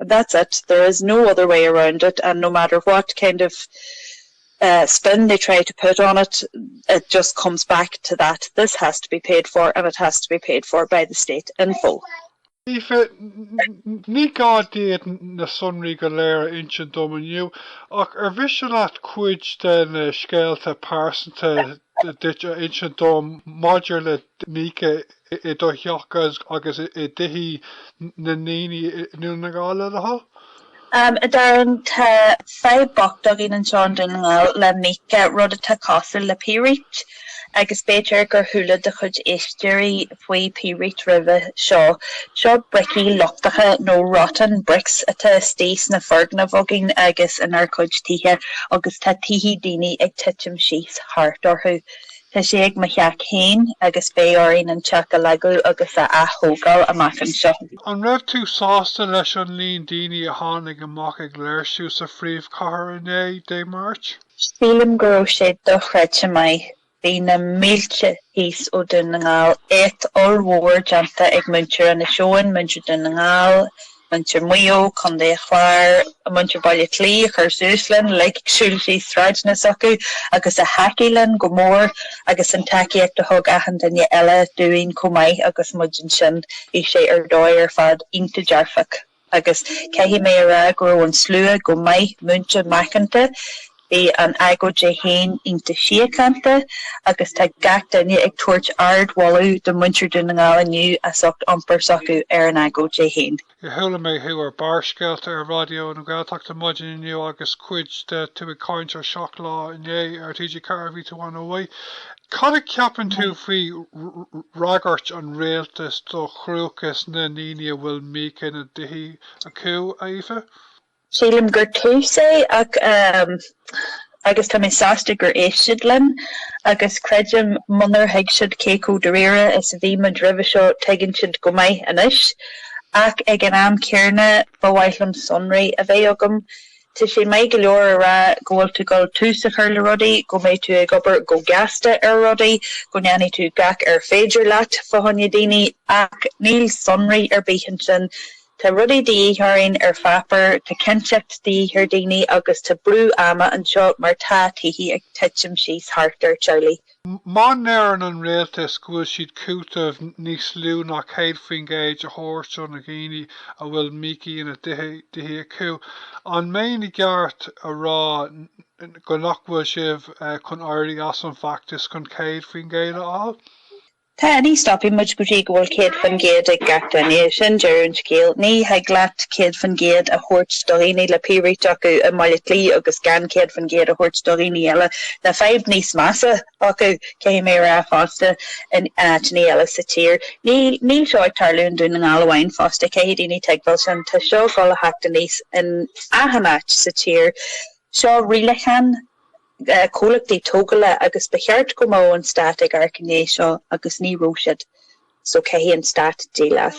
and that's it, there is no other way around it and no matter what kind of eh spin they try to put on it, it just comes back to that, this has to be paid for and it has to be paid for by the state. info. Aoife, ní gá díot na sonraí go léir a insint dom inniu, ach ar mhiste leat cuid de na scéalta pearsanta duit a insint dom maidir le Nika i do theach agus i dtithí na ndaoine i nDún na nGall a thoil? A Darren, tá fadhb bocht againn anseo i nDún na nGall le mica, rud atá cosúil le pírít, agus b'fhéidir gur chuala do chuid éisteoirí faoi pírít roimhe seo. Seo bricí lochtacha nó rotten bricks atá istigh sna foirgnimh againn agus inár gcuid tithe agus tá tithe daoine ag titim síos thart orthu. Tá sé ag mo theach féin agus beidh orainn an teach a leagadh agus a ath-thógáil amach anseo. An raibh tú sásta leis an líon daoine a tháinig amach ag léirsiú sa phríomhchathair inné Dé Máirt? Sílim go raibh sé dochreidte maith. Bhí na mílte thíos ó Dún na nGall, éacht ollmhór déanta ag muintir Inis Eoghain, muintir Dhún na nGall, muintir Mhaigh Eo, Contae an Chláir, muintir Bhaile Átha Cliath a chuir suas linn, ag siúl trí sráideanna s'acu agus a thacaigh linn go mór agus an tacaíocht a thug achan duine eile dúinn chomh maith agus muid ansin. Bhí sé ar dóigh ar fad iontach dearfach agus caithfidh mé a rá go raibh an slua go maith múinte macánta. Bhí an agóid í féin ionta síochánta agus tá gach duine ag tabhairt ardmholadh do mhuintir Dhún na nGall inniu as ucht iompar s'acu ar an agóid í féin. Chuala mé thú ar Barrscéalta ar Raidió na Gaeltachta maidin inniu agus cuid de tú ag caint ar Seacht Lá inné ar TG4 a bhí tú ann uaidh. Cad a cheapann tú faoi fhreagairt an Rialtais do chruachas na ndaoine a bhfuil mica ina dtithe acu, Aoife? Sílim gur tús é ach agus tá mé sásta gur éist siad linn agus creidim munar thuig siad cé chomh dáiríre is a bhí muid roimhe seo tuigeann siad go maith anois. Ach ag an am céanna ba mhaith liom sonraí a bheith agam. Tá sé maith go leor a rá go bhfuil tú gul tús a chur le rudaí, go mbeidh tú ag obair go gasta ar rudaí, go ndéanfaidh tú gach ar féidir leat fá choinne daoine, ach níl sonraí ar bith ansin. Tá rudaí de dhíth orainn ar pháipéar, tá cinnteacht de dhíth ar daoine agus tá brú ama anseo mar tá tithe ag titim síos thart ar teaghlaigh. Má ndeireann an rialtas go bhfuil siad cúiteamh níos lú ná 100% a thabhairt do na dhaoine a bhfuil mica ina dtithe acu, an mbeinn i gceart a rá go nach bhfuil sibh chun éirí as an bhfeachtas chun 100% a fháil? Tá, ní stopfaidh muid go dtí go bhfuil 100% ag gach duine. Sin deireadh an scéil. Ní thig leat 100% a thabhairt do dhaoine le pírít acu i mBaile Átha Cliath agus gan 100% a thabhairt do dhaoine eile le fadhb níos measa acu, caithfidh mé a rá fosta, in áiteanna eile sa tír. Níl seo ag tarlú i nDún na nGall amháin fosta, caithfidh daoine tuigbheáil sin. Tá seo ag dul a theacht aníos in achan áit sa tír. Seo rialachán. comhlachtaí tógála agus ba cheart go mbeadh an Stát ag amharc i ndiaidh seo agus ní raibh siad so caithfidh an Stát díol as.